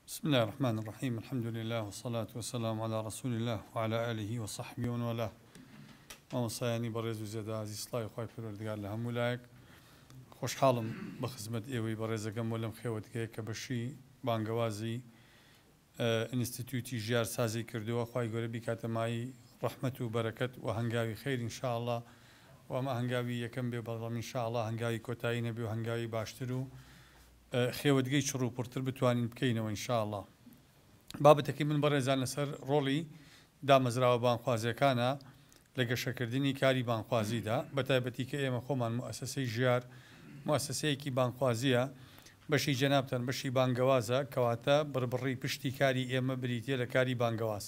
بسم اللە الرحمن الرحیم الحمد للە والصلاة والسلام علی رسول اللە وعلی آله وصحبه ومن والاه مامۆسایانی بەڕێز و زێدازی سڵاوی خی پەروەردگار لە هەموو لایەک خۆشحاڵم بە خزمەت ئێوەی بەڕێزەکەم و لەم خێوەتگەیە کە بەشی بانگەوازی ئینستیتوتی ژیار سازی کردووە خی گەورە بیکاتەمایی ڕحمت و بەرەکەت و هەنگاوی خێرین شاءله و ئەمە هەنگاوی یەکەم بێ بەڵام شاءله هەنگاوی کۆتایی نەبێ و هەنگاوی باشتر و خێوەتگەی چڕ و پڕتر بتوانین بکەینەوە ان شاء اللە. بابەتەکەی من بەڕێزان لەسەر ڕۆڵی دامەزراوە بانگخوازیەکانە لە گەشەکردنی کاری بانگخوازیدا، بەتایبەتی کە ئێمە خۆمان موئەسەسەی ژیار موئەسەسەیەکی بانگخوازیە، بەشی جەنابتان بەشی بانگەوازە، کەواتە بڕبڕی پشتی کاری ئێمە بریتیە لە کاری بانگەواز.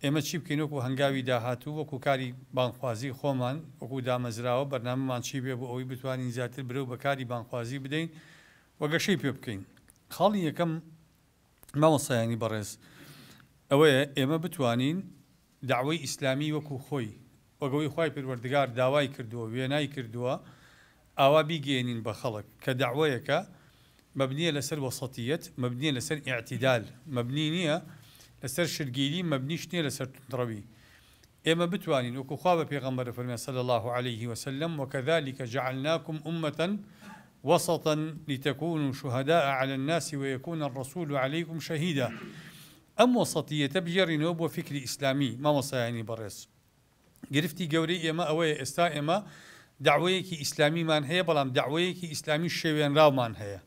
ئێمە چی بکەین وەکو هەنگاوی داهاتوو، وەکو کاری بانگخوازی خۆمان، وەکو دامەزراوە بەرنامەمان چی بێ بۆ ئەوەی بتوانین زیاتر برەو بە کاری بانگخوازی بدەین و گەشەی پێ بکەین؟ خاڵی یەکەم مامۆستایانی بەڕێز ئەوەیە ئێمە بتوانین دەعوەی ئیسلامی وەکو خۆی، وەک ئەوەی خوای پەروەردگار داوای کردووە، وێنای کردووە، ئاوا بیگەیەنین بە خەڵک کە دەعوەیەکە مەبنیە لەسەر وەسەتیەت، مەبنیە لەسەر ئیعتیدال، مەبنی نیە لەسەر شتگیری، مەبنیش نیە لەسەر توندڕەوی. ئێمە بتوانین وەکو خوا بە پێغەمبەر فەرمویان صلی اللە علیه وسلم، وکذلک جعلناکم امە وسطا لتکونوا شهداء علی الناس ویکون الرسول علیکم شهیدا، ئەم وەسەتیەتە بگێڕینەوە بۆ فیکری ئیسلامی مامۆستایانی بەڕێز. گرفتی گەورەی ئێمە ئەوەیە ئێستا ئێمە دەعوەیەکی ئیسلامیمان هەیە بەڵام دەعوەیەکی ئیسلامی شێوێنراومان هەیە.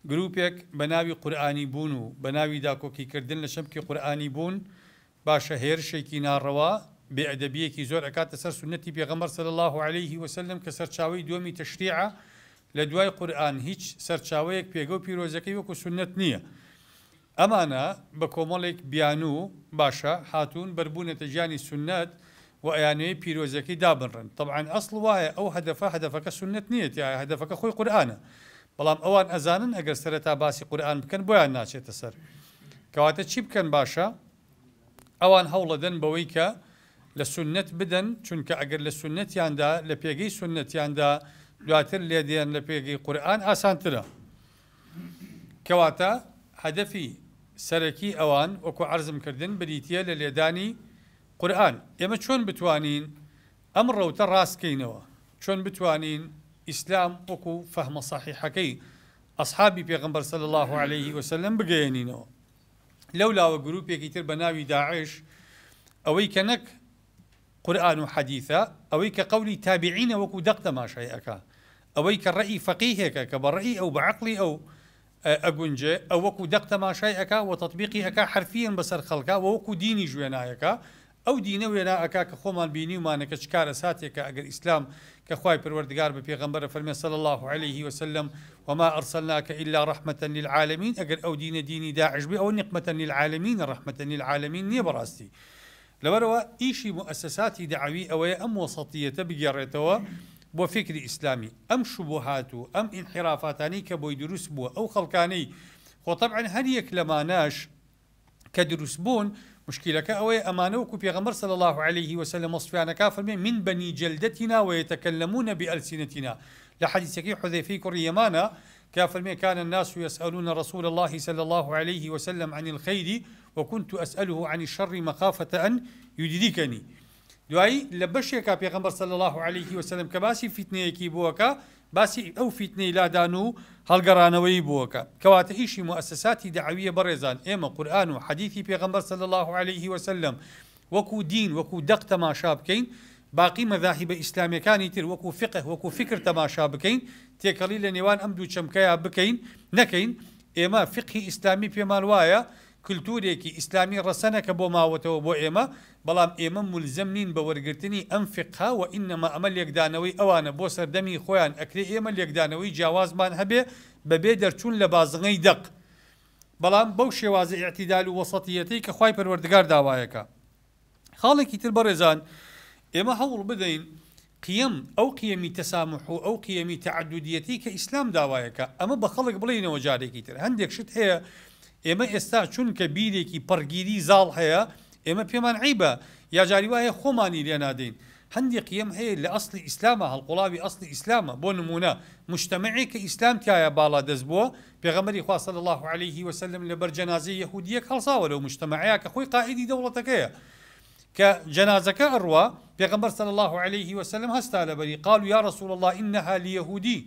گروپێک بە ناوی قورئانی بوون و بە ناوی داکۆکی کردن لە چەمکی قورئانی بوون باشە هێرشێکی ناڕەوا بێ ئەدەبیەکی زۆر ئەکاتە سەر سوننەتی پێغەمبەر صلی اللە علیه و سلم کە سەرچاوەی دووەمی تەشریعە لە دوای قورئان هیچ سەرچاوەیەک پێگە و پیرۆزەکەی وەکو سوننەت نییە. ئەمانە بە کۆمەڵێک بیانو و باشە هاتوون بەر بوونەتە گیانی سوننەت و ئەیانەوێ پیرۆزیەکەی دابنڕن تەبعەن ئەسڵ وایە ئەو هەدەفە هەدەفەکە سوننەت نیەتی ئایا هەدەفەکە خۆی قورئانە بەڵام ئەوان ئەزانن ئەگەر سەرەتا باسی قورئان بکەن بۆیان ناچێتە سەر کەواتە چی بکەن باشە ئەوان هەوڵەدەن بەوەی کە لە سوننەت بدەن چونکە ئەگەر لە سوننەتیاندا لە پێگەی سوننەتیاندا دواتر لێدێن لە پێگەی قورئان ئاسانترە. کەواتە هەدەفی سەرەکی ئەوان وەکو عەرزم کردن بریتیە لە لێدانی قورئان. ئێمە چۆن بتوانین ئەم ڕەوتە ڕاست کەینەوە؟ چۆن بتوانین ئیسلام وەکو فەهمە سەحیحەکەی ئەسحابی پێغەمبەر صلی اللە علیە وسلم بگەیەنینەوە؟ لەولاوە گروپێکی تر بەناوی داعش ئەوەی کە نەک قورئان و حەدیثە، ئەوەی کە قەولی تابعینە وەکو دەق تەماشای ئەکا، ئەوەی کە ڕەئی فەقیهێکە کە بە ڕەئی ئەو بە عەقڵی ئەو ئەگونجێ ئەو وەکو دەق تەماشای ئەکا وە تەتبیقی ئەکا حەرفیەن بەسەر خەڵکا وە وەکو دینیش وێنا ئەکا ئەو دینە وێنا ئەکا کە خۆمان بینیومانە کە چ کارەساتێکە ئەگەر ئیسلام کە خوای پەروەردگار بە پێغەمبەرە فەرمێ صلی اللە علیه و سلم وما ارسلناک الا رحمە للعالمین ئەگەر ئەو دینە دینی داعش بێ ئەوە نقمە للعالمینە رحمە للعالمین نیە بەڕاستی لەبەرئەوە ئیشی موئەسەساتی دەعەوی ئەوەیە ئەم وەسەتییەتە بگێڕێتەوە بۆ فیکری ئیسلامی، ئەم شوبوهات و ئەم ئینحیرافاتانەی کە بۆی دروست بووە، ئەو خەڵکانەی خۆ تەبعەن هەر یەک لەمانەش کە دروست بوون، موشکیلەکە ئەوەیە ئەمانە وەکو پێغەمبەر صلی اللە علیە و سلم وەسفیان ئەکا فەرمێ، من بنی جلدتنا و یتکلمون بئلسنتنا، لە حەدیسەکەی حوزەیفەی کوڕی یەمانە کە فەرمێ، کان الناس یسئلون رسول اللە صلی اللە علیە و سلم عن الخیر وکنت اسئله عن الشر مخافە ان یدریکنی دوایی لە بەشێکا پێغەمبەر صلی اللە علیه وسلم کە باسی فیتنەیەکی بووەکە باسی ئەو فیتنەی لادان و هەڵگەڕانەوەی بووەکە کەواتە ئیشی موئەسەساتی دەعەویە بەڕێزان ئێمە قورئان و حەدیثی پێغەمبەر صلی اللە علیه وسلم وەکو دین، وەکو دەق تەماشا بکەین، باقی مەزاهیبە ئیسلامیەکانی تر وەکو فقه، وەکو فکر تەماشا بکەین، تێکەڵی لە نێوان ئەم دوو چەمکەیا بکەین، نەکەین، ئێمە فقهی ئیسلامی پێمان وایە کلتورێکی ئیسلامی ڕەسەنە کە بۆ ماوەتەوە بۆ ئێمە، بەڵام ئێمە مولزەم نین بە وەرگرتنی ئەم فقهە وەئینەما ئەمە لێکدانەوەی ئەوانە بۆ سەردەمی خۆیان ئەکرێ ئێمە لێکدانەوەی جیاوازمان هەبێ بەبێ دەرچوون لە بازنەی دەق بەڵام بەو شێوازە ئیعتیدال و وەسەتییەتەی کە خوای پەروەردگار داوایەکە. خاڵێکی تر بەڕێزان ئێمە هەوڵ بدەین قیەم، ئەو قیەمی تەساموح و ئەو قیەمی تەعەدودییەتەی کە ئیسلام داوایەکە، ئەمە بە خەڵک بڵێینەوە جارێکی تر. هەندێک شت هەیە ئێمە ئێستا چونکە بیرێکی پەڕگیری زاڵ هەیە، ئێمە پێمان عەیبە یا جاری وایە خۆمانی لێ نادەین. هەندێ قیەم هەیە لە ئەسڵی ئیسلامە، هەڵقوڵاوی ئەسڵی ئیسلامە. بۆ نموونە موجتەمەعێک کە ئیسلام تیایا باڵادەست بووە، پێغەمبەری خوا صلی اللە علیە وسلم لەبەر جەنازەی یەهودیەک هەڵساوە لەو مجتەمەعەیا کە خۆی قائیدی دەوڵەتەکەیە کە جەنازەکە ئەڕوا پێغەمبەر صلی اللە علیە وسلم هەستا لەبەری قالوا یا رسول اللە انها لیهودی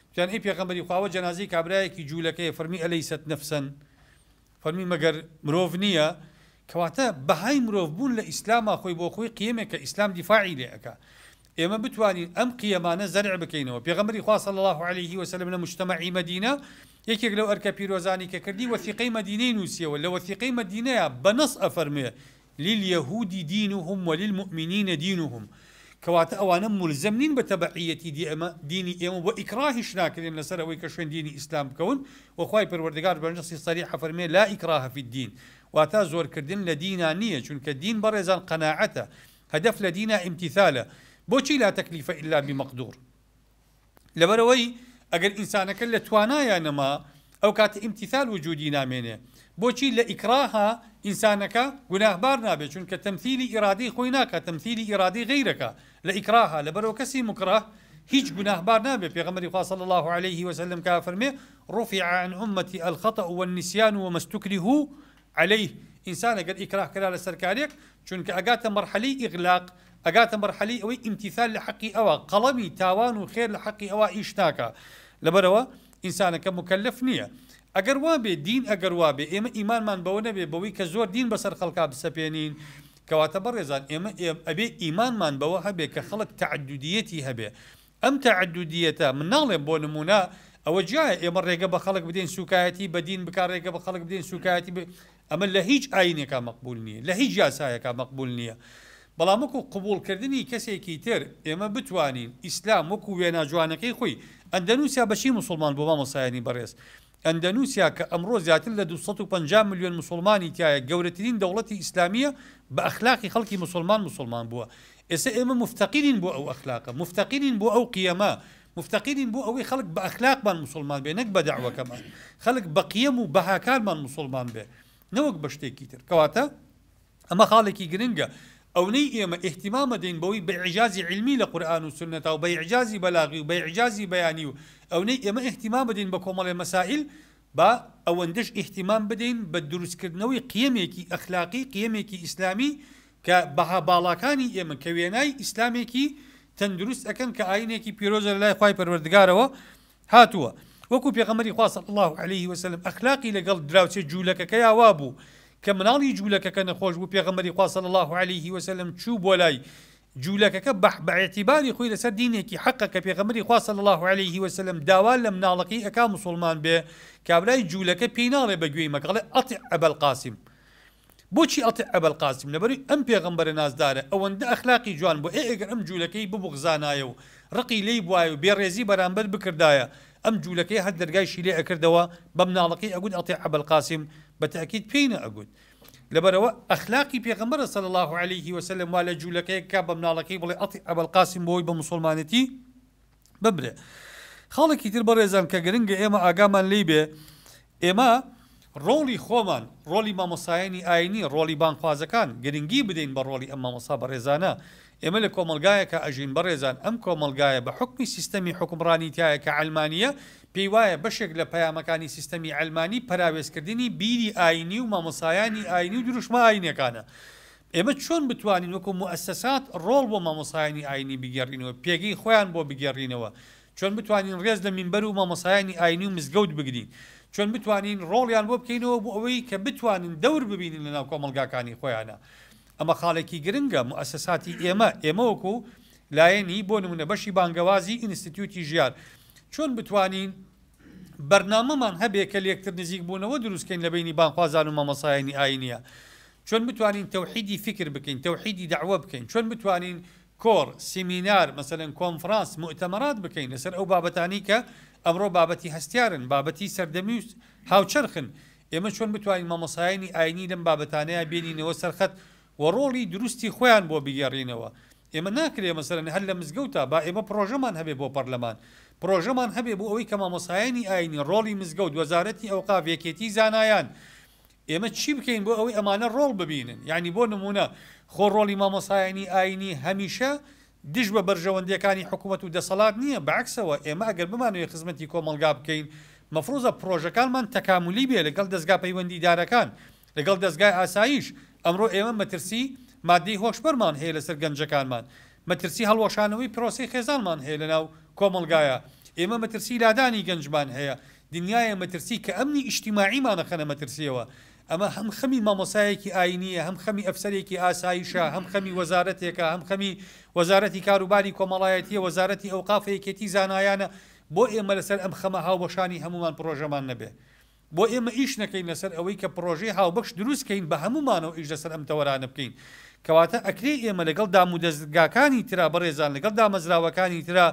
گوتیان ئەی پێغەمبەری خوا ئەوە جەنازەی کابرایەکی جولەکەیە فەرمی الیست نفسا فەرمووی مەگەر مرۆڤ نییە؟ کەواتە بەهای مرۆڤ بوون لە ئیسلامە خۆی بۆ خۆی قیەمێکە ئیسلام دیفاعی لێ ئەکا ئێمە بتوانین ئەم قیەمانە زەرع بکەینەوە پێغەمبەری خوا صلی اللە علیه و سلم لە مجتمعی مەدینە یەکێک لەو ئەرکە پیرۆزانی کە کردی وەثیقەی مەدینەی نووسیەوە لە وەثیقەی مەدینەیە بە نەص ئەفەرموێ للیهود دینهم وللمومنین دینهم کەواتە ئەوانە مولزەم نین بە تەبعیەتی دیئمە دینی ئێمە وە ئیکڕاهیش ناکرێن لەسەر ئەوەی کە شوێن دینی ئیسلام بکەون وە خوای پەروەردگار بە نەسی سەریح ئەفەرمێ لا ئیکڕاهە فی الدین واتا زۆر کردن لە دینا نیە چونکە دین بەڕێزان قەناعەتە هەدەف لە دینا ئیمتیثالە بۆچی لا تەکلیفە الا بمەقدور لەبەرئەوەی ئەگەر ئینسانەکە لە توانایا نەما ئەو کاتە ئیمتیسال وجودی نامێنێ بۆچی لە ئیکڕاها ئینسانەکە گوناهبار نابێ چونکە تەمسیلی ئیرادەی خۆی ناکا تەمسیلی ئیرادەی غەیرەکە لە ئیکڕاها لەبەرئەوە کەسی موکڕە هیچ گوناهبار نابێ پێغەمبەری خوا صلی اللە علیه وسلم کە فەرمێ رفع عن امتی الخطأ والنسیان وما استکرهوا علیه، ئینسان ئەگەر ئیکراه کرا لەسەر کارێک، چونکە ئەگاتە مەرحەلەی ئیغلاق، ئەگاتە مەرحەلەی ئەوەی ئیمتیثال لە حەقی ئەوا، قەڵەمی تاوان و خێر لە حەقی ئەوا ئیش ناکا، لەبەرئەوە ئینسانەکە موکەلەف نییە. ئەگەر وابێ دین ئەگەر وابێ ئێمە ئیمانمان بەوە نەبێ بەوەی کە زۆر دین بەسەر خەڵکا بسەپێنین، کەواتە بەڕێزان ئێمە ئەبێ ئیمانمان بەوە هەبێ کە خەڵک تەعەددودییەتی هەبێ، ئەم تەعەدودییەتە، من ناڵێم بۆ نموونە ئەوە جیایە ئێمە ڕێگە بە خەڵک بدەین سووکایەتی بە دین بکا، ڕێگە بە خەڵک بدەین سووکایەتی بە، ئەمە لە هیچ ئایینێکا مەقبوول نییە، لە هیچ یاسایەکا مەقبوول نییە، بەڵام وەکوو قبووڵکردنی کەسێکی تر ئێمە بتوانین ئیسلام وەکوو وێنا جوانەکەی خۆی، ئەندەنووسیا بە چی موسوڵمان بوو مامۆستایانی بەڕێز؟ ئەندەنوسیا کە ئەمڕۆ زیاتر لە دوو سەد و پەنجا ملیۆن موسوڵمانی تیایە گەورەترین دەوڵەتی ئیسلامیە بە ئەخلاقی خەڵکی موسوڵمان موسوڵمان بووە ئێستا ئێمە موفتەقیرین بۆ ئەو ئەخلاقە موفتەقیرین بۆ ئەو قیەمە موفتەقیرین بۆ ئەوەی خەڵک بە ئەخلاقمان موسوڵمان بێ نەک بە دەعوەکەمان خەڵک بە قیەم و بەهاکانمان موسوڵمان بێ نەوەک بە شتێکی تر کەواتە ئەمە خاڵێکی گرنگە، ئەونەی ئێمە ئیهتیمام ئەدەین بەوەی بە ئیعجازی عیلمی لە قورئان و سوننەتا و بە ئیعجازی بەلاغی و بە ئیعجازی بەیانی و ئەونەی ئێمە ئیهتیمام ئەدەین بە کۆمەڵێ مەسائیل با ئەوەندەش ئیهتیمام بدەین بە دروست کردنەوەی قیەمێکی ئەخلاقی قیەمێکی ئیسلامی کە بەها باڵاکانی ئێمە کە وێنای ئیسلامێکی تەندروست ئەکەن کە ئاینێکی پیرۆزە لەلای خوای پەروەردگارەوە هاتووە، وەکو پێغەمبەری خوا صلی اللە علیە وسلم ئەخلاقی لەگەڵ دراوسێ جوولەکەکەیا وابوو کە مناڵی جوولەکەکە نەخۆش بوو پێغەمبەری خوا صلی اللە علیە وسلم چوو بۆ لای جوولەکەکە بە بە اعتباری خۆی لەسەر دینێکی حەقە کە پێغەمبەری خوا صلی اللە علیە وسلم داوا لە مناڵەکەی ئەکا موسڵمان بێ کابرای جوولەکە پێی ناڵێ بە گوێی مەکە ئەڵێ اطع ابا القاسم بۆچی ئەڵتێ ئەبەلقاسم لەبەروی ئەم پێغەمبەرە نازدارە ئەوەندە ئەخلاقی جوان بوو ئێ ئەگەر ئەم جولەکەی ببوغزانایە و ڕقی لێی بوایە و بێڕێزی بەرامبەر بکردایە ئەم جولەکەی هەر دەرگایشی لێ ئەکردەوە بەمناڵەکەی ئەگوت ئەڵتێ ئەبەلقاسم بەتەئکید پێی نەئەگوت لەبەرئەوە ئەخلاقی پێغەمبەرە صلی اللە علیه وسلم وا لە جولەکەیەک کا بەمناڵەکەی بڵێ ئەڵتێ ئەبەلقاسم بۆی بە موسوڵمانەتی بمرێ خاڵێکی تر بەڕێزان کە گرنگە ئێمە ئاگامان لێی بێ ئێمە ڕۆڵی خۆمان ڕۆلی مامۆسایانی ئاینی ڕۆلی بانگخوازەکان گرنگی بدەین بە ڕۆلی ئەم مامۆسا بەڕێزانە ئێمە لە کۆمەلگایەکە ئەژین بەڕێزان ئەم کۆمەلگایە بە حکمی سیستەمی حکمڕانی تایە کە عەلمانیە پێی وایە بەشێک لە پەیامەکانی سیستەمی عەلمانی پەراوێزکردنی بیری ئاینی و مامۆسایانی ئاینی و دروشمە ئاینەکانە ئێمە چۆن بتوانین وەکو موئەسەسات ڕۆڵ بۆ مامۆستایانی ئاینی بگێڕینەوە، پێگەی خۆیان بۆ بگێڕینەوە، چۆن بتوانین ڕێز لە مینبەر و مامۆستایانی ئاینی و مزگەوت بگرین، چۆن بتوانین ڕۆڵیان بۆ بکەینەوە بۆ ئەوەی کە بتوانن دەور ببینن لەناو کۆمەڵگاکانی خۆیانا، ئەمە خاڵێکی گرنگە، موئەسەساتی ئێمە، ئێمە وەکو لایەنی، بۆ نمونە بەشی بانگەوازی ئینستیتیوتی ژیار، چۆن بتوانین بەرنامەمان هەبێ کە لێکتر نزیک بوونەوە دروست کەین لە بەینی بانگخوازان و مامۆستایانی ئاینیا، چۆن بتوانین تەوحیدی فیکر بکەین، تەوحیدی دەعوە بکەین، چۆن بتوانین کۆڕ، سیمینار، مەسەلەن کۆنفڕانس، موئتەمەرات بکەین لەسەر ئەو بابەتانەی کە ئەمڕۆ بابەتی هەستیارن، بابەتی سەردەمی و هاوچەرخن، ئێمە چۆن بتوانین مامۆستایانی ئاینی لەم بابەتانەیا بێنینەوە سەر خەت و ڕۆڵی دروستی خۆیان بۆ بگێڕینەوە، ئێمە ناکرێ مەسەلەن هەر لە مزگەوتا، با ئێمە پڕۆژەمان هەبێ بۆ پەرلەمان، پڕۆژەمان هەبێ بۆ ئەوەی کە مامۆستایانی ئاینی، ڕۆڵی مزگەوت، وەزارەتی ئەوقاف، یەکێتی زانایان، ئێمە چی بکەین بۆ ئەوەی ئەمانە ڕۆڵ ببینن؟ یانی بۆ نموونە خۆ ڕۆڵی مامۆستایانی ئایینی هەمیشە دژ بە بەرژەوەندییەکانی حکوومەت و دەسەڵات نییە، بە عەکسەوە ئێمە ئەگەر بمانەوێ خزمەتی کۆمەڵگا بکەین مەفرووزە پڕۆژەکانمان تەکامولی بێ لەگەڵ دەزگا پەیوەندیدارەکان، لەگەڵ دەزگای ئاسایش، ئەمڕۆ ئێمە مەترسی ماددەی هۆشبەرمان هەیە لەسەر گەنجەکانمان، مەترسی هەڵوەشانەوەی پرۆسەی خێزانمان هەیە لەناو کۆمەڵگایا، ئێمە مەترسی لادانی گەنجمان هەیە دنیایە مەترسی کە ئەمنی ئیجتیماعیمان ئەخەنە مەترسیەوە، ئەمە هەم خەمی مامۆستایەکی ئاینیە، هەم خەمی ئەفسەرێکی ئاسایشە، هەم خەمی وەزارەتێکە، هەم خەمی وەزارەتی کاروباری کۆمەڵایەتیە، وەزارەتی ئەوقاف و یەکێتی زانایانە، بۆ ئێمە لەسەر ئەم خەمە هاوبەشانی هەموومان پڕۆژەمان نەبێ؟ بۆ ئێمە ئیش نەکەین لەسەر ئەوەی کە پڕۆژەی هاوبەش دروست کەین بە هەموومانەوە ئیش لەسەر ئەم تەوەرانە بکەین؟ کەواتە ئەکرێ ئێمە لەگەڵ دامودەزگاکانی ترا بەڕێزان لەگەڵ دامەزراوەکانی ترا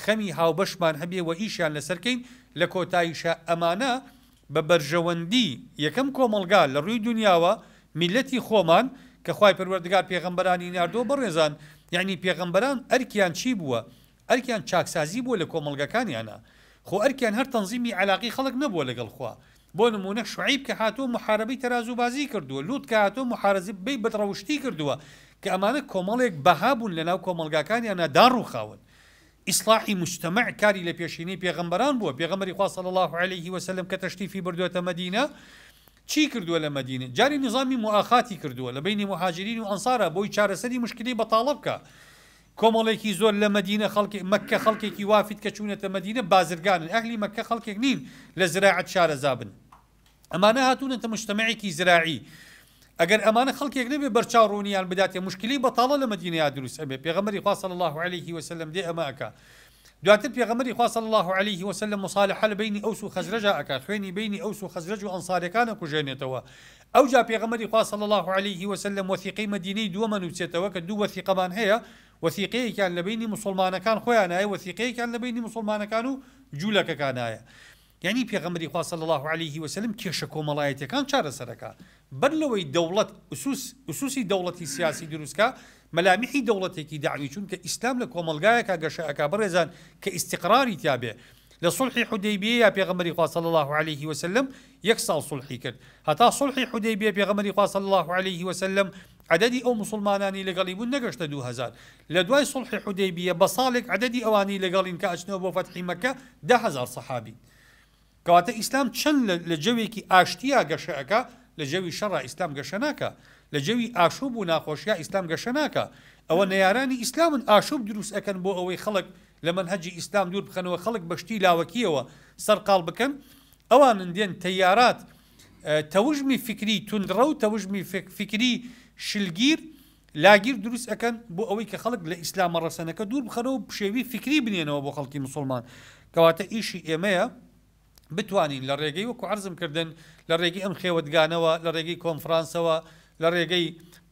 خەمی هاوبەشمان هەبێ و ئیشیان لەسەر کەین، لە کۆتاییشا ئەمانە بە بەرژەوەندی یەکەم کۆمەڵگا لە ڕووی دونیاوە، میللەتی خۆمان، کە خوای پەروەردگار پێغەمبەرانی ناردووە بەڕێزان، یەعنی پێغەمبەران ئەرکیان چی بووە؟ ئەرکیان چاکسازی بووە لە کۆمەڵگەکانیانا، خۆ ئەرکیان هەر تەنزیمی عەلاقەی خەڵک نەبووە لەگەڵ خوا، بۆ نموونە شوعەیب کە هاتووە موحارەبەی تەرازووبازی کردووە، لوط کە هاتووە موحارەزبەی بەدڕەوشتی کردووە، کە ئەمانە کۆمەڵێک بەها بوون لەناو کۆمەڵگاکانیانا داڕووخاون. ئیسڵاحی موجتەمع کاری لە پێشینەی پێغەمبەران بووە، پێغەمبەری خوا صلی اللە علیە و سلم کە تەشریفی بردووەتە مەدینە چی کردووە لە مەدینە جاری نیزامی موئاخاتی کردووە لە بەینی موهاجرین و ئەنصارا بۆی چارەسەری مشکلی بەتاڵە بکا کۆمەڵێکی زۆر لە مەدینە خەڵکی مەککە خەڵکێکی وافیت کە چوونەتە مەدینە بازرگانن ئەهلی مەککە خەڵکێک نین لە زراعەت شارەزا بن ئەمانە هاتوونەتە مجتمعێکی زراعی ئەگەر ئەمانە خەڵکێک نەبێ بەرچاو ڕوونیان بداتێ موشکیلەی بەتاڵە لە مەدینەیا دروست ئەبێ پێغەمبەری خوا صلی الله علیه وسلم دێ ئەمە ئەکا دواتر پێغەمبەری خوا صلی الله علیه وسلم مصالحە لە بینی ئەوس و خەزرەجا ئەکا خوێنی بینی ئەوس و خەزرەج و ئەنصارەکان ئەکوژێنێتەوە ئەوجا پێغەمبەری خوا صلی الله علیه وسلم وثیقەی مەدینەی دووەمە نووسێتەوە کە دوو وثیقەمان هەیە وثیقەیەکیان لە بینی مسلمانەکان خۆیان هەیە وثیقەیەکیان لە بینی مسلمانەکان و جوولەکەکان هەیە یانی پێغەمبەری خوا صلی اللە علیە و سلم کێشە کۆمەڵایەتیەکان چارەسەرەکا بەر لەوەی دەوڵەت ئوسوس ئوسوسی دەوڵەتی سیاسی دروست کا مەلامیحی دەوڵەتێکی دەعوی چونکە ئیسلام لە کۆمەڵگایەکا گەشە ئەکا بەڕێزان کە ئیستیقراری تیا بێ لە صلحی حودەیبیەیا پێغەمبەری خوا صلی اللە علیە و سلم یەک ساڵ صلحی کرد هەتا صلحی حودەیبیە پێغەمبەری خوا صلی اللە علیە و سلم عەدەدی ئەو موسڵمانانەی لەگەڵی بوون نەگەشتە دوو هەزار، لە دوای سوڵحی حودەیبیە بە ساڵێک عەدەدی ئەوانەی لەگەڵین کە ئەچنەوە بۆ فەتحی مەکە دە هەزار سەحابین. کەواتە ئیسلام چەند لە لە جەوێکی ئاشتیا گەشە ئەکا لە جەوی شەڕا ئیسلام گەشە ناکا، لە جەوی ئاشوب و ناخۆشیا ئیسلام گەشە ناکا، ئەوە نەیارانی ئیسلامن ئاشوب دروست ئەکەن بۆ ئەوەی خەڵک لە مەنهەجی ئیسلام دوور بخەنەوە خەڵک بە شتی لاوەکیەوە سەرقاڵ بکەن ئەوانن دێن تەیارات تەوژمی فیکری توندڕەو و تەوژمی فیکری شلگیر لاگیر دروست ئەکەن بۆ ئەوەی کە خەڵک لە ئیسلامە ڕەسەنەکە دوور بخەنەوە و پشێوی فیکری بنێنەوە بۆ خەڵکی موسڵمان کەواتە ئیشی ئێمەیە بتوانین لە ڕێگەی وەکو عەرزم کردن لە ڕێگەی ئەم خێوەتگانەوە لە ڕێگەی کۆنفرانسەوە لە ڕێگەی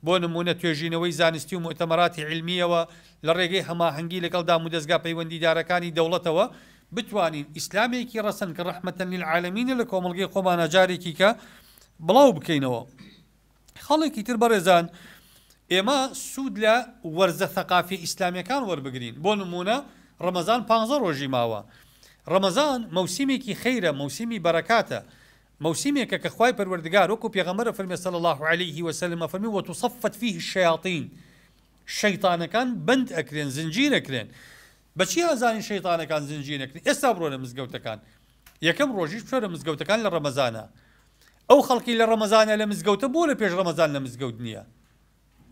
بۆ نمونە توێژینەوەی زانستی و مۆتەمەراتی علمیەوە لە ڕێگەی هەماهەنگی لەگەڵ دامودەزگا پەیوەندیدارەکانی دەوڵەتەوە بتوانین ئیسلامێکی ڕەسەن کە ڕەحمەتەن للعالمینە لە کۆمەڵگەی خۆمانا جارێکی کە بڵاو بکەینەوە خەڵێکی تر بەڕێزان ئێمە سوود لە وەرزە ثەقافی ئیسلامیەکان وەربگرین بۆ نمونە ڕەمەزان پ ڕۆژی ماوە ڕەمەزان مەوسیمێکی خەیرە مەوسیمی بەرەکاتە مەوسیمێکە کە خوای پەروەردگار وەکو پێغەمبەر فەرمی صلی الله علیه و سلم فەرمی وتصفت فيه الشیاطین شەیطانەکان بند ئەکرێن زنجیر ئەکرێن بەچی ئەزانین شەیتانەکان زنجیر نەکرێن ئێستا بڕۆنە مزگەوتەکان یەکەم ڕۆژیش بچۆرە مزگەوتەکان لە ڕەمەزانە ئەو خەڵکی لە ڕەمەزانە لە مزگەوتە بۆ لە پێش ڕەمەزان لە مزگەوت نییە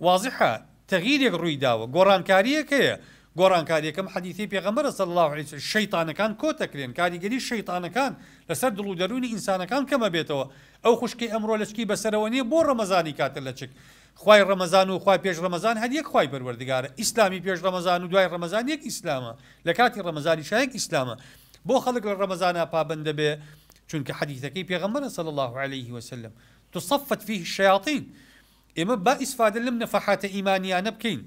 وازحە تەغیرێک ڕووی داوە گۆڕانکاریەک هەیە گۆڕانکاریەکەم حەدیثی پێغەمبەر صلی الله عليه وسلم شەیطانەکان کۆتەکرێن کاریگەری شەیطانەکان لەسەر دڵ و دەروونی ئینسانەکان کەمە بێتەوە ئەو خوشکی ئەمڕۆ لەچکی بەسەرەوە نیە بۆ ڕەمەزانی کاتە لەچک خوای ڕەمەزان و خوای پێش ڕەمەزان هەر یەک خوای پەروەردگارە، ئیسلامی پێش ڕەمەزان و دوای ڕەمەزان یەک ئیسلامە، لە کاتی ڕەمەزانیشا یەک ئیسلامە، بۆ خەڵک لە ڕەمەزانا پابەند دەبێ؟ چونکە حەدیثەکەی پێغەمبەرە صلی اللە علیە وسلم، تصفت فیه الشیاطین، ئێمە با ئیسفادە لەم نەفەحاتە ئیمانیانە بکەین،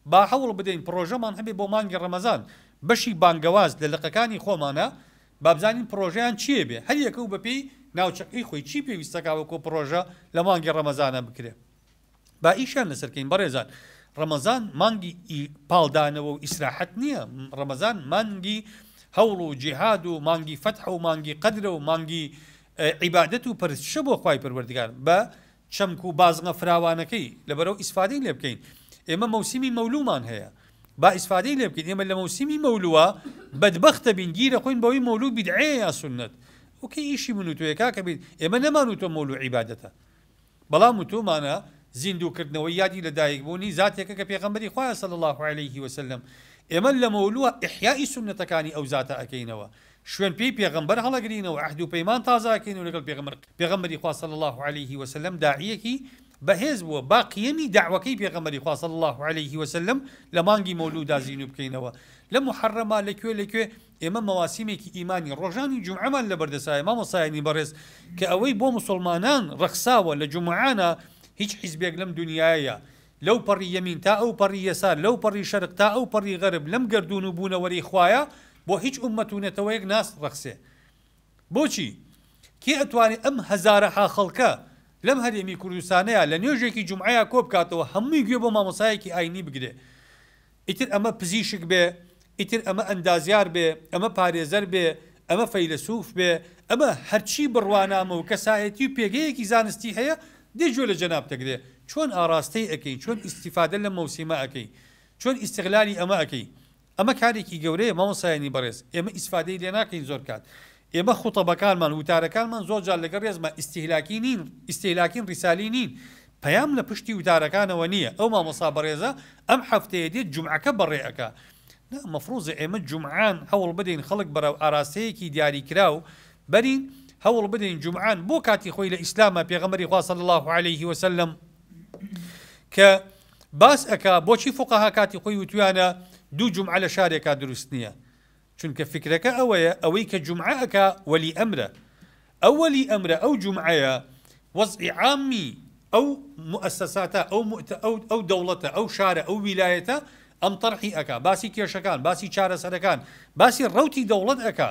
با هەوڵ بدەین پڕۆژەمان هەبێ بۆ مانگی ڕەمەزان، بەشی بانگەواز لە لقەکانی خۆمانا بابزانین پڕۆژەیان چیە بێ هەر یەکەو بەپێی ناوچەکەی خۆی چی پێویستە کاوەکۆ پڕۆژە لە مانگی ڕەمەزانا بکرێ با ئیشیان لەسەر کەین بەڕێزان ڕەمەزان مانگی ئی پاڵ دانەوە و ئیسراحەت نیە ڕەمەزان مانگی هەوڵ و جیهاد و مانگی فەتحە و مانگی قەدرە و مانگی عیبادەت و پەرستشە بۆ خوای پەروەردگار بە چەمک و بازنە فراوانەکەی لەبەرئەو ئیسفادەی لێ بکەین ئێمە مەوسیمی مەولومان هەیە با ئیسفادەی لێ بکەین ئێمە لەمەوسیمی مەولوە بەدبەخت دەبین گیر ئەخۆین بەوەی مەولو بیدعەیە یا سوننەت ئەو کەی ئیشی من و تۆیە کاکە بیر ئێمە نەمان و تۆ مەولو عیبادەتە بەڵام و تۆمانە زیندوو کردنەوەی یادی لە دایک بوونی زاتێکە کە پێغەمبەری خوایە صلی اللە علیه وسلم ئێمە لەمەولوە احیائی سوننەتەکانی ئەو زاتە ئەکەینەوە شوێن پێی پێغەمبەر هەڵەگرین و عەهد و پەیمان تازەکەین و لەگەڵ پێغەمبەر پێغەمبەری خوا صلی اللە علیە وسلم داعیەکی بەهێز بووە با قیەمی دەعوەکەی پێغەمبەری خوا صلی اللە علیە وسلم لە مانگی مەولودا زینو بکەینەوە لە موحەڕەما لە کوێ لە کوێ ئێمە مەواسیمێکی ئیمانی ڕۆژانی جومعەمان لە بەردەسایە مامۆستایانی بەڕێز کە ئەوەی بۆ موسڵمانان ڕەخساوە لە جومعانە هیچ حیزبێک لەم دونیایە لەو پەڕی یەمین تا ئەو پەڕی یەسار، لەو پەڕی شەرق تا ئەو پەڕی غەرب، لەم گەردوون و بوونەوەرەی خوایە بۆ هیچ ئوممەت و نەتەوەیەک ناس رەخسێ. بۆچی؟ کێ ئەتوانێ ئەم هەزارەها خەڵکە لەم هەرێمی کوردستانەیا لە نوێژێکی جومعەیا کۆبکاتەوە هەمووی گوێ بۆ مامۆستایەکی ئاینی بگرێ ئیتر ئەمە پزیشک بێ، ئیتر ئەمە ئەندازیار بێ، ئەمە پارێزەر بێ، ئەمە فەیلەسوف بێ، ئەمە هەرچی بڕوانامە و کەسایەتی و پێگەیەکی زانستی هەیە، دێ گوێ لە جەنابت ئەگرێ، چۆن ئاراستەی ئەکەی، چۆن ئیستیفادە لەم مەوسیمە ئەکەی، چۆن ئیستغلالی ئەمە ئەکەی. ئەمە کارێکی گەورەیە مامۆستایانی بەڕێز، ئێمە ئیسفادەی لێ ناکەین زۆر کات. ئێمە خوتەبەکانمان، وتارەکانمان زۆر جار لەگەڵ ڕێزما ئیستیهلاکی نین، ئیستیهلاکین ڕیسالی نین، پەیام لە پشتی وتارەکانەوە نییە، ئەو مامۆستا بەڕێزە ئەم حەفتەیە دێت جومعەکە بەڕێ ئەکا، نا مەفروزە ئێمە جومعان هەوڵ بدەین خەڵک بەرەو ئاراستەیەکی دیاری کراو بەرین، هەوڵ بدەین جومعان بۆ کاتی خۆی لە ئیسلامە پێغەمبەری خوا صلی اللە علیە و سلم کە باس ئەکا بۆچی فوقەها کاتی خۆی وتویانە دوو جومعە لە شارێکا دروست نییە، چونکە فکرەکە ئەوەیە ئەوەی کە جومعە ئەکا وەلی ئەمرە ئەو وەلی ئەمرە ئەو جومعەیە وەزعی عامی ئەو موئەسەساتە ئەو مؤ ئەو ئەو دەوڵەتە ئەو شارە ئەو ویلایەتە ئەم تەرحی ئەکا باسی کێشەکان باسی چارەسەرەکان باسی ڕەوتی دەوڵەت ئەکا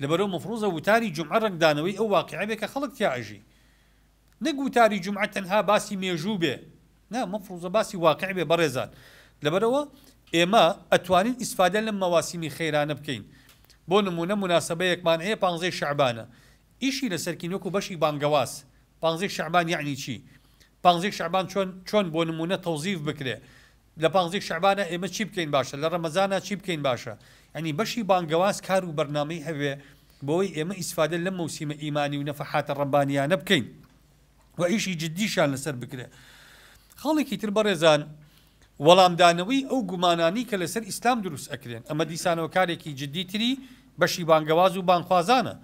لەبەرو مفروزە وتاری جومعە ڕەنگدانەوەی ئەو واقعە بێ کە خەڵک تیا ئەژی نەک وتاری جومعە تەنها باسی مێژوو بێ نا مەفروزە باسی واقع بێ بەڕێزان لەبەرئەوە ئێمە ئەتوانین ئیسفادە لەم مەواسیمی خەیرانە بکەین بۆ نمونە موناسەبەیەکمان هەیە پانزەی شەعبانە ئیشی لەسەرکین وەکو بەشی بانگەواز پانزەی شەعبان یەعنی چی پانزەی شەعبان چۆن چۆن بۆ نمونە تەوزیف بکرێ لە پانزەی شەعبانە ئێمە چی بکەین باشە لە ڕەمەزانا چی بکەین باشە یانی بەشی بانگەواز کار و بەرنامەی هەبێ بەوەی ئێمە ئیسفادە لەم مەوسیمە ئیمانی و نەفەحاتە ڕەبانیانە بکەین و ئیشی جددیشان لەسەر بکرێ خاڵێکی تر بەڕێزان وەڵامدانەوەی ئەو گومانانی کە لەسەر ئیسلام دروست ئەکرێن ئەمە دیسانەوە کارێکی جددی تری بەشی بانگەواز و بانخوازانە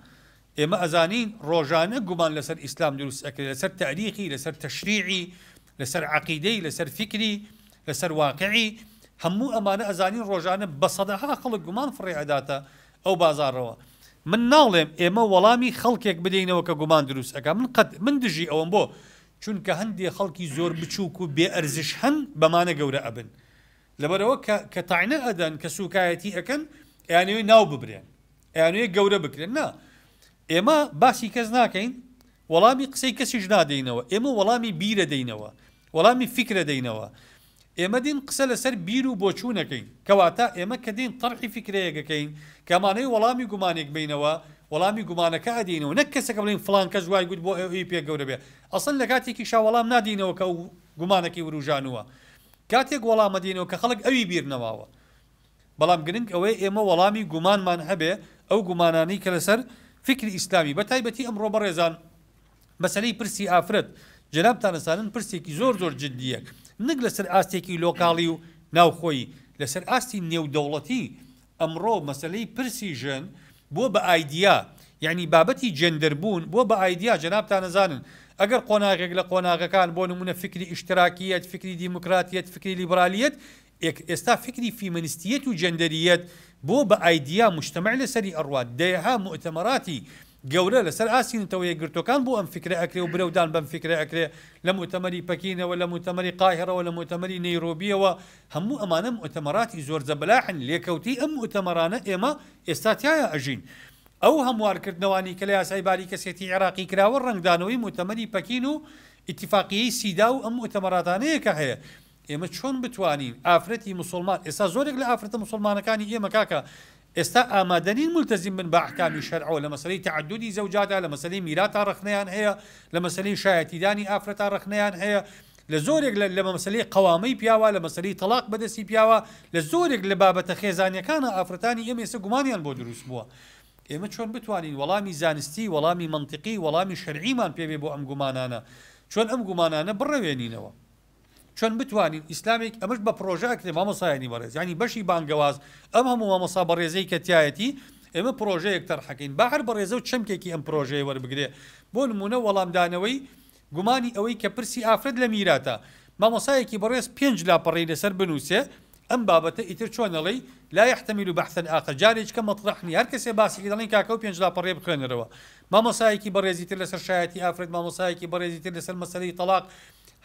ئێمە ئەزانین ڕۆژانە گومان لەسەر ئیسلام دروست ئەکرێت لەسەر تاریخی لەسەر تەشریعی لەسەر عەقیدەی لەسەر فیکری لەسەر واقعی هەموو ئەمانە ئەزانین ڕۆژانە بە سەدەها خەڵک گومان فڕێ ئەداتە ئەو بازاڕەوە من ناڵێم ئێمە وەڵامی خەڵکێک بدەینەوە کە گومان دروست ئەکا من قەت من دژی ئەوەم بۆ چونکە هەندێ خەڵکی زۆر بچووک و بێ ئەرزش هەن بەمانە گەورە ئەبن لەبەرەوە کە کە تاینە ئەدەن کە سوکایەتی ئەکەن ئەیانەوێ ناو ببرێن ئەیانوێ گەورە بکرێن نا ئێمە باسی کەس ناکەین وەڵامی قسەی کەسیش نادەینەوە، ئێمە وەڵامی بیرە دەینەوە، وەڵامی فیکرە دەینەوە. ئێمە دێین قسە لەسەر بیر و بۆچوونەکەین. کەواتە ئێمە کە دێین تەرحی فیکرەیەک ئەکەین، کە ئەمانەوێ وەڵامی گومانێک بەینەوە، وەڵامی گومانەکە ئەدەینەوە، نەک کەسەکە بڵێین فڵان کەس وای گوت بۆ ئەوی پێ گەورە بێ. ئەسڵەن لە کاتێکیشا وەڵام نادەینەوە کە ئەو گومانەکەی ورووژانووە. کاتێک وەڵام ئەدەینەوە کە خەڵک ئەوی بیر نەماوە. بەڵام گرنگ ئەوەیە ئێمە وەڵامی گومانمان هەبێ، ئەو گومانانەی کە لەسەر فیکری ئیسلامی، بەتایبەتی ئەمڕۆ بەڕێزان مەسەلەی پرسی ئافرەت جەنابتان ئەزانن پرسێکی زۆر زۆر جدییە نەک لەسەر ئاستێکی لۆکاڵی و ناوخۆیی، لەسەر ئاستی نێودەوڵەتی ئەمڕۆ مەسەلەی پرسی ژن بووە بە ئایدیا، یەعنی بابەتی جێندەر بوون بووە بە ئایدیا، جەنابتان ئەزانن ئەگەر قۆناغێک لە قۆناغەکان بۆ نموونە فیکری ئیشتراکییەت، فیکری دیموکراتییەت، فیکری لیبرالییەت، ئێک ئێستا فیکری فیمەنستیەت و جەندەریەت بۆ بە ئایدیا موجتەمەع لەسەری ئەڕوات، دەیەها موئتەمەڕاتی گەورە لەسەر ئاستی نەتەوە یەکگرتوەکان بۆ ئەم فیکرە ئەکرێ و برەودان بەم فیکرە ئەکرێ لە موئتەمەری پەکینەوە لە موئتەمەری قاهیڕەوە لە موئتەمەری نەیرۆبیەوە هەموو ئەمانە موئتەمەڕاتی زۆر زەبەلاحن لێکەوتەی ئەم موئتەمەڕانە ئێمە ئێستا تیایا ئەژین ئەو هەموار کردنەوانی کە لە یاسای باری کەسێتی عێڕاقی کراوە ڕەنگدانەوەی موئتەمەری پەکین و ئیتفاقیەی سیدا و ئەم موئتەمەڕاتانەیە کە هەیە ئێمە چۆن بتوانین ئافرەتی موسوڵمان ئێستا زۆرێک لە ئافرەتە موسوڵمانەکانی ئێمە کاکە ئێستا ئامادەنین مولتەزیم بن بە ئەحکامی شەرعەوە لە مەسەلەی تەعەدودی زەوجادا لە مەسەلەی میراتا ڕەخنەیان هەیە لە مەسەلەی شایەتیدانی ئافرەتا ڕەخنەیان هەیە لە زۆرێک لە لە مەسەلەی قەوامەی پیاوە لە مەسەلەی تەڵاق بەدەستی پیاوە لە زۆرێک لە بابەتە خێزانیەکانە ئافرەتانی ئێمە ئێستا گومانیان بۆ دروست بووە ئێمە چۆن بتوانین وەڵامی زانستی وەڵامی منطقی وەڵامی شەرعیمان پێوێ بۆ ئەم گومانانە چۆن ئەم گومانانە بڕەوێنینەوە چۆن بتوانین ئیسلامێک ئەمەش بە پرۆژە ئەکرێ مامۆسایانی بەڕێز یعنی بەشی بانگەواز ئەم هەموو مامۆسا بەڕێزەی کە تایەتی ئێمە پرۆژەیەک تەرحەکەین بە هەر بەڕێزە و چەمکێکی ئەم پرۆژەیە وەربگرێ بۆ نمونە وەڵامدانەوەی گومانی ئەوەی کە پرسی ئافرەت لە میراتە مامۆسایەکی بەڕێز پێنج لاپەڕەی لەسەر بنووسێ ئەم بابەتە ئیتر چۆن ئەڵێی لا یحتمل بحثا ئاخر جارێککە مەطرح نیە هەر کەسێ باسێکی دەڵێن کاکە و پێنج لاپەڕەیە بخوێنەرەوە مامۆسایەکی بەڕێزی تر لەسەر شایەتی ئافرەت مامۆسایەکی بەڕێزی تر لەسەر مەسەلەی تەڵاق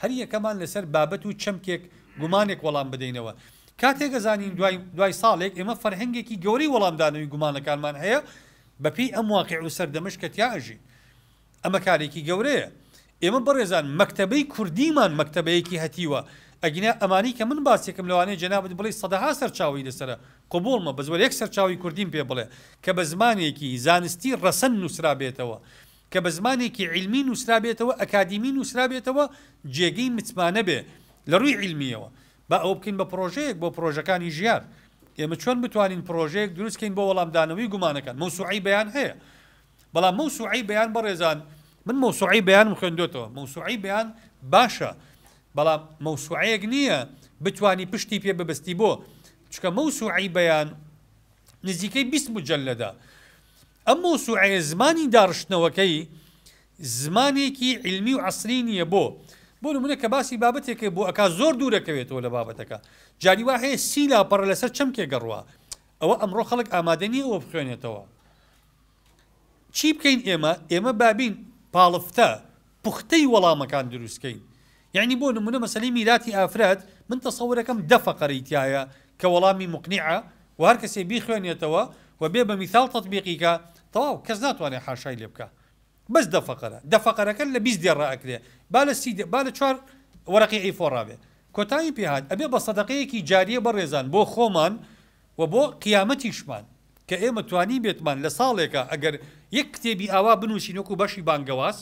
هەر یەکەمان لەسەر بابەت و چەمکێک گومانێک وەڵام بدەینەوە. کاتێک ئەزانین دوای دوای ساڵێک ئێمە فەرهەنگێکی گەورەی وەڵامدانەوەی گومانەکانمان هەیە بە پێی ئەم واقیع و سەردەمەش کە تیا ئەژین. ئەمە کارێکی گەورەیە. ئێمە بەڕێزان مەکتەبەی کوردیمان مەکتەبەیەکی هەتیوە. ئەگینا ئەمانەی کە من باسیەکەم لەوانەیە جەنابت بڵێی سەدەها سەرچاوەی لەسەرە. قبووڵمە بەس وەرە یەک سەرچاوەی کوردیم پێ بڵێ کە بە زمانێکی زانستی ڕەسەن نووسرابێتەوە. کە بە زمانێکی عیلمی نووسرابێتەوە، ئەکادیمی نووسرابێتەوە، جێگەی متمانە بێ لە ڕووی عیلمییەوە. با ئەوە بکەین بە پڕۆژەیەک بۆ پڕۆژەکانی ژیار. ئێمە چۆن بتوانین پڕۆژەیەک دروست کەین بۆ وەڵامدانەوەی گومانەکان؟ مەوسوعەی بەیان هەیە. بەڵام مەوسوعەی بەیان بەڕێزان، من مەوسوعەی بەیانم خوێندۆتەوە، مەوسوعەی بەیان باشە، بەڵام مەوسوعەیەک نییە بتوانی پشتی پێ ببەستی بۆ؟ چونکە مەوسوعەی بەیان نزیکەی بیست موجەلەدە. ئەم مەوسوعەیە زمانی داڕشتنەوەکەی زمانێکی عیلمی و عەسری نیە بۆ؟ بۆ نمونە کە باسی بابەتێکە بۆ ئەکا زۆر دوورەکەوێتەوە لە بابەتەکە جاری وا هەیە سی لاپەڕە لەسەر چەمکێک گەڕوا ئەوە ئەمڕۆ خەڵک ئامادە نیە ئەوە بخوێنێتەوە چی بکەین ئێمە ئێمە بابین پاڵفتە پوختەی وەڵامەکان دروست کەین یەعنی بۆ نمونە مەسەلەی میراتی ئافرەت من تەسەورەکەم دە فەقەرەی تیایە کە وەڵامی موقنیعە و هەر کەسێ بیخوێنێتەوە و بێ بە میثال تەتبیقی کا تەواو کەس ناتوانێ حاشای لێ بکا بەس دە فەقەرە دە فەقەرەکە لە بیست دێڕ ئەکرێ با لە سی با لە چوار وەرەقی ئەی فۆر ڕابێ کۆتایی پێ هات ئەبێ بە سەدەقەیەکی جاریە بەڕێزان بۆ خۆمان و بۆ قیامەتیشمان کە ئێمە توانیبێتمان لە ساڵێکا ئەگەر یەک کتێبی ئاوا بنووسین وەکوو بەشی بانگەواز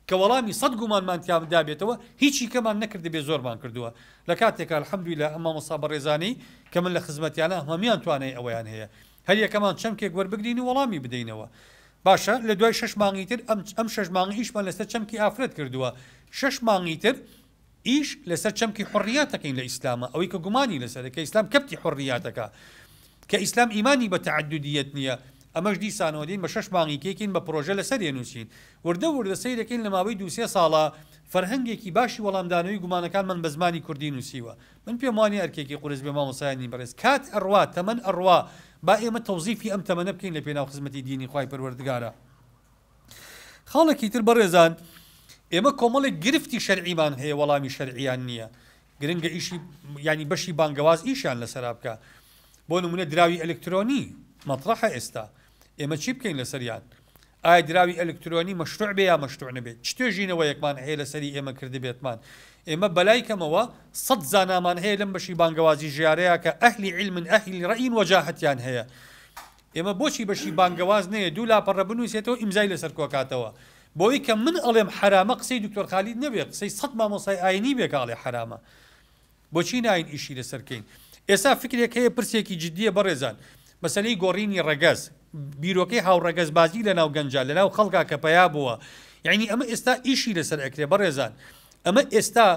کە وەڵامی سەد گومانمان تیادا بێتەوە هیچی کەمان نەکردبێ زۆرمان کردووە لە کاتێکا الحمدللە ئەم مامۆستا بەڕێزانەی کە من لە خزمەتیانا هەموویان توانای ئەوەیان هەیە هەر یەکەمان چەمکێک وەربگرین و وەڵامی بدەینەوە باشە لە دوای شەش مانگی تر ئەم ئەم شەش مانگە ئیشمان لەسەر چەمکی ئافرەت کردووە شەش مانگی تر ئیش لەسەر چەمکی حوڕیات دەکەین لە ئیسلامە ئەوەی کە گومانی لەسەرە کە ئیسلام کەبتی حوڕیاتەکە کە ئیسلام ئیمانی بە تەعەدودیەت نیە ئەمەش دیسانەوە دێین بە شەش مانگی تێکین بە پڕۆژە لەسەری ئەنووسین وردە وردە سەیرەکەین لە ماوەی دوو سێ ساڵە فەرهەنگێکی باشی وەڵامدانەوەی گومانەکانمان بە زمانی کوردی نووسیوە من پێم وانیە ئەرکێکی قورس بێ مامۆستایانی بەڕێز کات ئەڕوا تەمەن ئەڕوا با ئێمە تەوزیفی ئەم تەمەنە بکەین لە پێناو خزمەتی دینی خوای پەروەردگارا خاڵێکی تر بەڕێزان ئێمە کۆمەڵێک گرفتی شەرعیمان هەیە وەڵامی شەرعیان نییە گرنگە ئیشی ینی بەشی بانگەواز ئیشیان لەسەر بکە بۆ نمونە دراوی ئەلکترۆنی مەطرحە ئێستا ئێمە چی بکەین لەسەریان ئایا دراوی ئەلکترۆنی مەشروع بێ یا مەشروع نەبێت چ توێژینەوە یەکمان هەیە لەسەری ئێمە کردبێتمان ئێمە بەلای کەمەوە سەد زانامان هەیە لەم بەشی بانگەوازی ژارەیە کە ئەهلی علمن ئەهلی ڕئین وەجاهتیان هەیە ئێمە بۆچی بەشی بانگەواز نەیە دوو لاپەڕە بنوسێتەوە ئیمزای لەسەر کۆکاتەوە بۆی کە من ئەڵێم حەرامە قسەی دکتۆر خالید نەبێ قسەی سەد مامۆستای ئاینی بێ کە ئەڵێ حەرامە بۆچی ناین ئیشی لەسەر کەین ئێسا فکرێک هەیە پرسێکی جدیە بەڕێزان مەسەلەی گۆڕینی ڕەگەز بیرۆکەی هاوڕەگەزبازی لەناو گەنجە لەناو خەڵکا کە پەیا بووە یعنی ئەمە ئێستا ئیشی لەسەر ئەکرێ بەڕێزان ئەمە ئێستا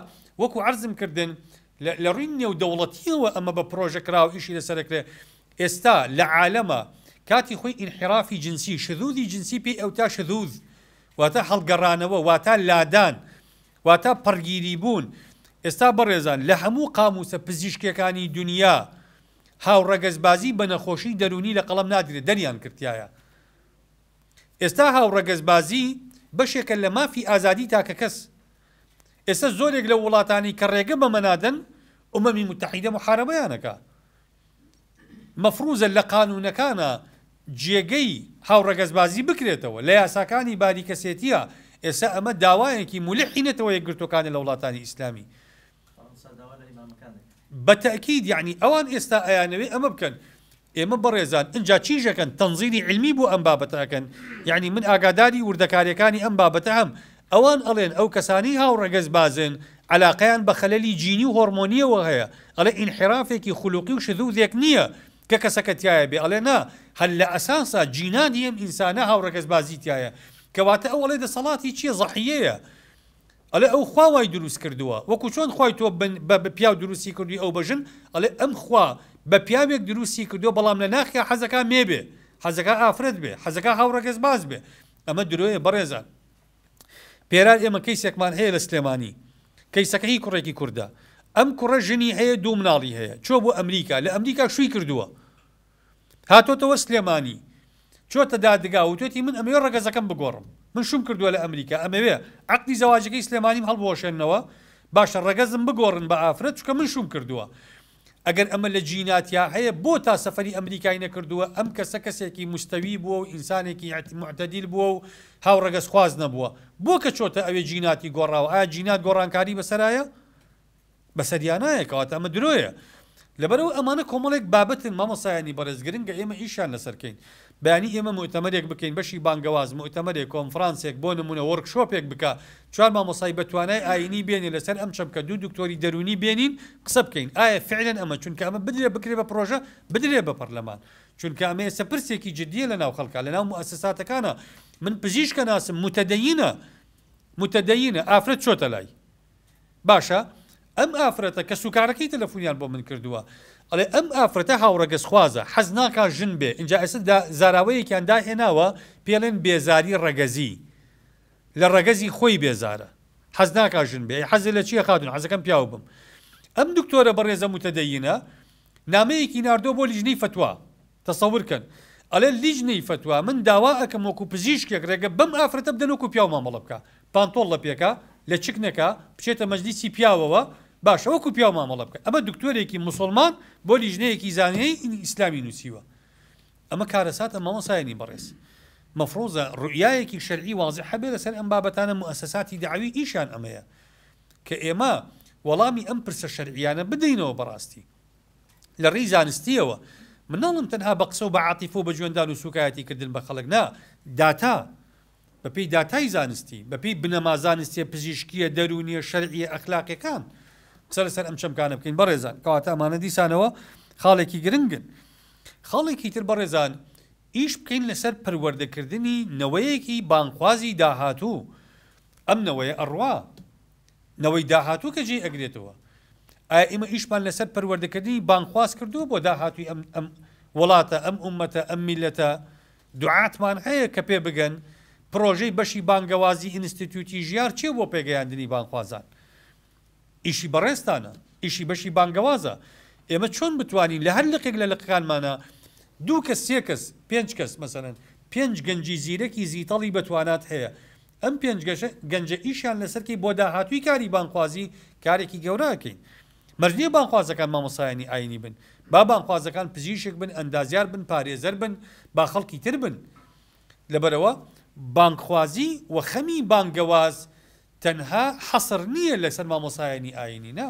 وەکو عەرزم کردن لە ڕووی نێودەوڵەتییەوە ئەمە بە پرۆژە کرا و ئیشی لەسەر دەکرێت. ئێستا لە عالەما کاتی خۆی ئینحیرافی جنسی، شذوذی جنسی پێی ئەوتا شذوذ واتە هەڵگەڕانەوە واتە لادان واتە پەڕگیری بوون. ئێستا بەڕێزان لە هەموو قامووسە پزیشکییەکانی دونیا هاوڕەگەزبازی بە نەخۆشی دەروونی لە قەڵەم نادرێت دەریان کرتایە. ئێستا هاوڕەگەزبازی بەشێکە لە مافی ئازادی تاکەکەس. ئێستا زۆرێک لەو وڵاتانەی کە ڕێگە بەمە نادەن، ئومەمی موتەحیدە موحارەبەیان ئەکا. مەفروزە لە قانوونەکانا جێگەی هاوڕەگەزبازی بکرێتەوە، لە یاساکانی باری کەسێتیە، ئێستا ئەمە داوایەکی مولحی نەتەوە یەکگرتووەکانە لە وڵاتانی ئیسلامی. بە تەئکید یەعنی ئەوان ئێستا ئەیانەوێ ئەمە بکەن ئێمە بەڕێزان ئنجا چیش ئەکەن تەنزیلی علمی بۆ ئەم بابەتە ئەکەن یەعنی من ئاگاداری وردەکاریەکانی ئەم بابەتە هەم ئەوان ئەڵێن ئەو کەسانەی هاوڕەگەز بازن عەلاقەیان بە خەلەلی جینی و هۆڕمۆنیەوە هەیە ئەڵێ ئینحیرافێکی خولوقی و شذوذێک نیە کە کەسەکە تایە بێ ئەڵێ نا هەر لە ئەساسا جینانی ئەم ئینسانە هاوڕەگەز بازی تایە کەواتە ئەو ئەڵێ دەسەڵاتی چیە زەحیەیە ئەڵێ ئەو خوا وای دروست کردووە وەکو چۆن خوای تۆ بە پیاو دروستی کردووی ئەو بە ژن ئەڵێ ئەم خوا بە پیاوێک دروستی کردووە بەڵام لە ناخیا حەزەکا مێ بێ حەزەکا ئافرەت بێ حەزەکا هاوڕەگەز باز بێ ئەمە درۆیە بەڕێزان پێرار ئێمە کەیسێکمان هەیە لە سلێمانی کەیسەکە هی کوڕێکی کوردە ئەم کوڕە ژنی هەیە دوو مناڵی هەیە چۆ بۆ ئەمریکا لە ئەمریکا شووی کردووە هاتۆتەوە سلێمانی چۆتە دادگا وتۆتی من ئەمەوێ ڕەگەزەکەم بگۆڕم من شوم کردوە لە ئەمریکا ئەمەوێ عەقدی زەواجەکەی سلێمانیم هەڵبوەشێنەوە باشە ڕەگەزم بگۆڕن بە ئافرەت چکە من شوم کردوە ئەگەر ئەمە لە جیناتیا هەیە بۆ تا سەفەری ئەمریکای نەکردوە ئەم کەسە کەسێکی مستەوی بوە و ئینسانێکی معتەدیل بوە و هاو ڕەگەز خواز نەبوە بۆ کە چۆتە ئەوێ جیناتی گۆڕاوە ئایا جینات گۆڕانکاری بەسەرایە بەسەریانایە کەواتە ئەمە درۆیە لەبەرئەوە ئەمانە کۆمەڵێک بابەتن مامۆستایانی بەڕێز گرنگە ئێمە ئیشیان لەسەرکەین بەیانی ئێمە موئتەمەرێک بکەین بەشی بانگەواز موئتەمەرێک کۆنفرانسێک بۆ نمونە وۆرک شۆپێک بکا چوار مامۆستای بەتوانای ئاینی بێنێ لەسەر ئەم چەمکە دوو دکتۆری دەروونی بێنین قسە بکەین ئایا فعلەن ئەمە چونکە ئەمە بدرێ بکرێ بە پرۆژە بدرێ بە پەرلەمان چونکە ئەمە ئێستا پرسێکی جدیە لەناو خەڵکا لەناو موئەسساتەکانە من پزیشکە ناسم متدەینە متدەینە ئافرەت چۆتە لای باشە ئەم ئافرەتە کەس و کارەکەی تەلەفونیان بۆ من کردووە ئەڵێ ئەم ئافرەتە هاوڕەگەز خوازە حەز ناکا ژن بێ ئینجا ئێستا زاراوەیەکیان داهێناوە پێڵێن بێزاری ڕەگەزی لە ڕەگەزی خۆی بێزارە حەز ناکا ژن بێ حەزی لە چیە خاتون حەزەکەم پیاو بم ئەم دکتۆرە بەڕێزە متدەینە نامەیەکی ناردۆ بۆ لیژنەی فتووا تەسەور کەن ئەڵێ لیجنەی فەتوا من داوا ئەکەم وەکو پزیشکێک رێگە بەم ئافرەتە بدەن وەکو پیاو مامەڵە بکا پانتۆڵ لەپێکا لەچک نەکا بچێتە مەجلیسی پیاوەوە باشە وەکو پیاو مامەڵە بکە ئەمە دکتۆرێکی موسوڵمان بۆ لیجنەیەکی زانیی ئیسلامی نوسیوە ئەمە کارەساتە مامۆسایانی بەڕێز مەفروزە روئیایەکی شەرعی وازح هەبێ لەسەر ئەم بابەتانە موئەسەساتی دەعەوی ئیشیان ئەمەیە کە ئێمە وەڵامی ئەم پرسە شەرعیانە بدەینەوە بەڕاستی. لە ڕێی زانستییەوە، من ناڵێم تەنها بە قسە و بە عاتیفە و بە جوێندان و سووکایەتی کردن بە خەڵک نا، داتا، بە پێی داتای زانستی، بە پێی بنەما زانستییە پزیشکییە، دەروونییە، شەرعییە، ئەخلاقییەکان قسە لەسەر ئەم چەمکانە بکەین بەڕێزان، کەواتە ئەمانە دیسانەوە خاڵێکی گرنگن. خاڵێکی تر بەڕێزان، ئیش بکەین لەسەر پەروەردەکردنی نەوەیەکی بانگخوازی داهاتوو، ئەم نەوەیە ئەڕوا، نەوەی داهاتوو کە جێی ئەگرێتەوە. ئایا ئیمە ئیشمان لەسەر پەروەردەکردنی بانگخواز کردووە بۆ داهاتووی ئەم ئەم وڵاتە، ئەم ئوممەتە، ئەم میللەتە؟ دوعاتمان هەیە کە پێ بگەن پرۆژەی بەشی بانگەوازی ئینستیتیوتی ژیار چیە بۆ پێگەیاندنی بانگخوازان؟ ئیشی بەڕێزتانە، ئیشی بەشی بانگەوازە. ئێمە چۆن بتوانین لە هەر لقێک لە لقەکانمانا دوو کەس، سێ کەس، پێنج کەس، مەسەلەن پێنج گەنجی زیرەکی زیتەڵی بەتوانات هەیە، ئەم پێنج گەنجە ئیشیان لەسەر کەی بۆ داهاتووی کاری بانگخوازی کارێکی گەورە ئەکەین مەرج نیە بانگخوازەکان مامۆستایانی ئاینی بن با بانگخوازەکان پزیشک بن ئەندازیار بن پارێزەر بن با خەڵکی تر بن لەبەرەوە بانگخوازی و خەمی بانگەواز تەنها حەسر نیە لەسەر مامۆستایانی ئاینی نا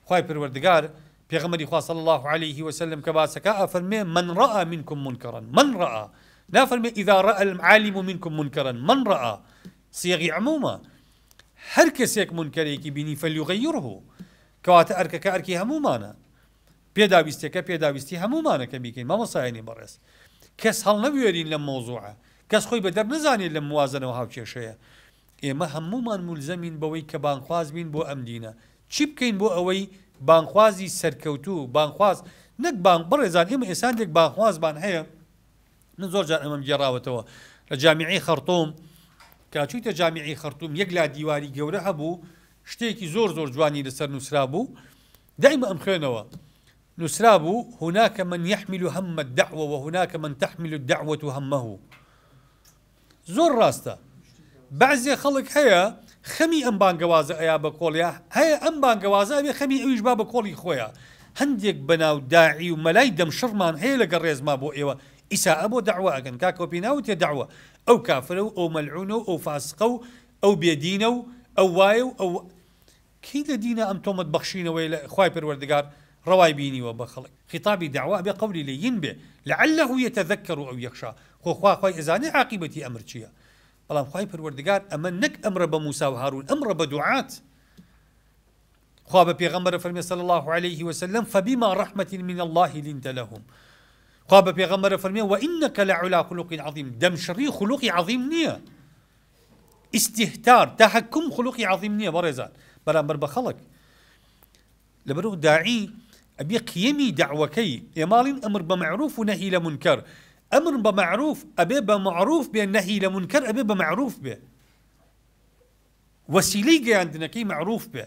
خوای پەروەردگار پێغەمبەری خوا صلی اللە علیە و سلم کە باسەکا ئەفەرمێ من رئا منکم منکرا من رئا نافەرمێ اذا رئا العالم منکم منکرا من رئا صیغی عمومە هەر کەسێک منکەرێکی بینی فلیغیره کەواتە ئەرکەکە ئەرکی هەموومانە پێداویستەکە پێداویستی هەموومانە کە بیکەین مامۆسایانی بەڕێز کەس هەڵنەبوێرین لەم مەوزوعە کەس خۆی بەدەر نەزانێت لەم موازنە و هاوکێشەیە ئێمە هەموومان مولزەمین بەوەی کە بانگخواز بین بۆ ئەم دینە، چی بکەین بۆ ئەوەی بانگخوازی سەرکەوتوو، بانگخواز نەک بانگ، بەڕێزان ئێمە ئێستا هەندێک بانگخوازمان هەیە، من زۆر جار ئەمەم گێڕاوەتەوە لە جامیعەی خەڕتوم، کە چوویتە جامیعەی خەڕتوم یەک لا دیواری گەورە هەبوو شتێکی زۆر زۆر جوانی لەسەر نووسرابوو، دایمە ئەمخوێنەوە، نووسرابوو، هناک من یحمل هم الدعوە و هناک من تحمل الدعوە همه. زۆر ڕاستە بەعزێ خەڵک هەیە خەمی ئەم بانگەوازە ئەیا بە کۆڵیا هەیە ئەم بانگەوازە ئەبێ خەمی ئەویش با بە کۆڵی خۆیا هەندێک بەناو داعی و مەلای دەم شڕمان هەیە لە گە ڕێزما بۆ ئێوە ئیسائە بۆ داوا ئەگەن کاکەوە پێی ناوتێ داوە ئەو کافرە و ئەو مەلعونە و ئەو فاسقە و ئەو بێدینە و ئەو وایە و ئەو کەی لە دینە ئەم تۆمەت بەخشینەوەی لە خوای پەروەردگار ڕەوای بینیوە بە خەڵک خیتابی دەعوا ئەبێ قەولی لە ین بێ لعلە یتذکر او یخشی خۆ خوا خوای ئەزانێ عاقیبەتی ئەمر چیە بەڵام خوای پەروەردگار ئەمە نەک ئەمرە بە موسی و هارون ئەمڕە بە دوعات خوا بە پێغەمبەر فەرمی صلی الله علیه و سلم فبما رحمت من الله لنت لهم خوا بە پێغەمبەر فەرمی وانک لعلی خلق عظیم دەمشڕی خلقی عظیم نییە ئیستیهتار، تەهەکوم خولوقی عەزیم نیە بەڕێزان بەرامبەر بە خەڵک. لەبەرو داعی ئەبێ قیەمی دەعوەکەی، ئێماڵین ئەمر بە مەعروف و نەهی لە مونکەر، ئەمر بە مەعروف ئەبێ بە معروف بێ نەهی لە مونکەر ئەبێ بە مەعروف بێ. وەسیلەی گەیاندنەکەی مەعروف بێ.